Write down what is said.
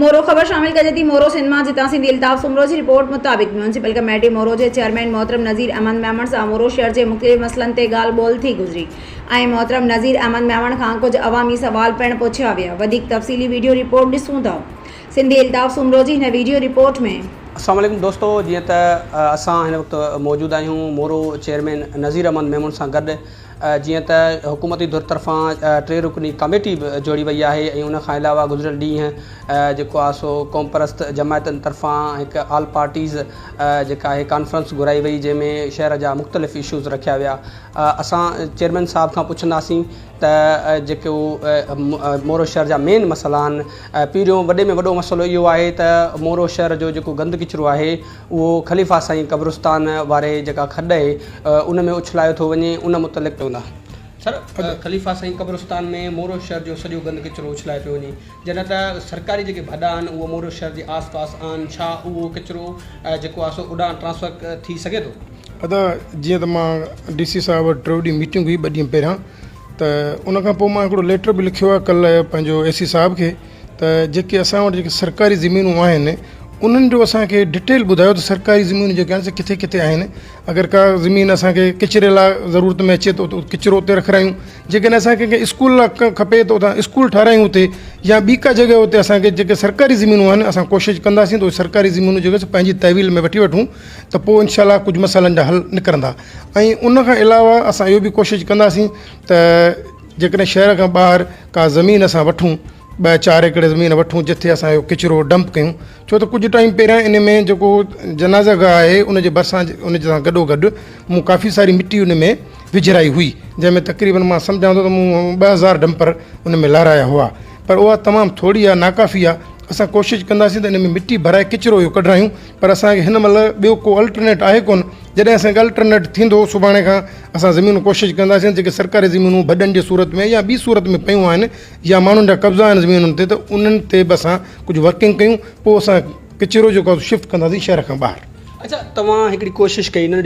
مورو، خبر شامل ڪجي ٿي مورو سينما جتان سنڌي الطاف سومرو جي رپورٽ مطابق ميونسپل ڪميٽي مورو جي چيئرمين محترم نذير احمد ميمڻ سان مورو شھر جي مختلف مسئلن تي ڳالھ ٻولھ ٿي گذري ۽ محترم نذير احمد ميمڻ کان ڪجھ عوامي سوال پڻ پڇيا ويا وڌيڪ تفصيلي ويڊيو رپورٽ ڏسون ٿا سنڌي الطاف سومرو جي هن ويڊيو رپورٽ ۾ السلام عليڪم دوستو جيئن ته اسان هن وقت موجود آهيون مورو چيئرمين نذير احمد ميمڻ سان گڏ جيئن ته حڪومتي ڌر طرفان ٽي رڪني ڪاميٽي به جوڙي وئي آهي ۽ ان کان علاوه گذريل ڏينهن جيڪو آهي سو قومپرست جماعتن طرفان هڪ آل پارٽيز جيڪا آهي ڪانفرنس گهرائي وئي جنهن ۾ شهر جا مختلف اشوز رکيا ويا اسان چيئرمين صاحب کان پڇنداسين ته جيڪو مورو شهر جا مين مسئلا آهن پهريون وڏي ۾ وڏو مسئلو اهو آهي ته مورو شهر جو جيڪو گند ڪچرو آهي اهو خليفا سائين قبرستان واري جيڪا کڏ اهي ان ۾ اڇلايو ٿو وڃي ان متعلق چوندا سر خليفا سائين قبرستان ۾ مورو شهر جو سڄو گند ڪچرو اڇلايو پيو وڃي جڏهن ته سرڪاري جيڪي ڀڏا آهن اهو مورو شهر جي آس پاس آهن ڇا اهو ڪچرو جيڪو آهي سو اوڏانهن ٽرانسفر ٿي سگهي ٿو. ادا جيئن ته مان ڊي سي صاحب وٽ ٽيو ڏينهن ميٽنگ هئي ٻه ڏينهن پهريان ته ان کان پوء مان هڪڙو ليٽر به لکيو آهي ڪلهه پنهنجو اي سي صاحب کي ته جيڪي اسان وٽ جيڪي سرڪاري زمينون آهن انهن جو اسان کي ڊٽيل ٻڌايو ته سرڪاري زمينون جيڪي آهن سي ڪٿي ڪٿي آهن اگر ڪا زمين اسان کي ڪچري لاء ضرورت ۾ اچي ته ڪچرو اتي رکرايون جيڪڏهن اسان کي ڪنهن اسڪول لاء ڪا کپي ته اتان اسڪول ٺهرايون اتي يا ٻي ڪا جڳهه اتي اسان کي جيڪي سرڪاري زمينون آهن اسان ڪوشش ڪنداسين ته سرڪاري زمينون جيڪي سو پنهنجي تحويل ۾ وٺي وٺون ته پوء انشاء الله ڪجهه مسئلن جا حل نڪرندا ۽ ان کان علاوه اسان اهو بي ڪوشش ڪنداسين ته جيڪڏهن شهر کان ٻاهر ڪا زمين اسان وٺون ٻه چار ايڪڙ زمين وٺون جتي اسان اهو ڪچرو ڊمپ ڪيون ڇو ته ڪجهه ٽائيم پهريان ان ۾ جيڪو جنازه گاهه آهي ان جي ڀرسان ان سان گڏو گڏ مون ڪافي ساري مٽي ان ۾ وجهرائي هئي جنهن ۾ تقريبن مان سمجهان ٿو ته مون ٻه هزار ڊمپر ان ۾ لهرايا هئا پر اها تمام ٿوري آهي ناڪافي آهي اسان ڪوشش ڪنداسين ته ان ۾ مٽي ڀرائي ڪچرو اهو ڪڍرايون پر اسانکي هن مهل ٻيو ڪو الٽرنيٽ آهي ڪون جڏهن اسانکي الٽرنيٽ ٿيندو سڀاڻي کان اسان زمينون ڪوشش ڪنداسين جيڪي سرڪاري زمينون ڀڏن جي صورت ۾ يا ٻي صورت ۾ پيون آهن يا ماڻهن جا قبضا آهن زمينن تي ته انهن تي به اسان ڪجهه ورڪنگ ڪيون پوء اسان ڪچرو جيڪو آهي سو شفٽ ڪنداسين شهر کان ٻاهر. اچا توهان هڪڙي ڪوشش ڪئي ننڍي.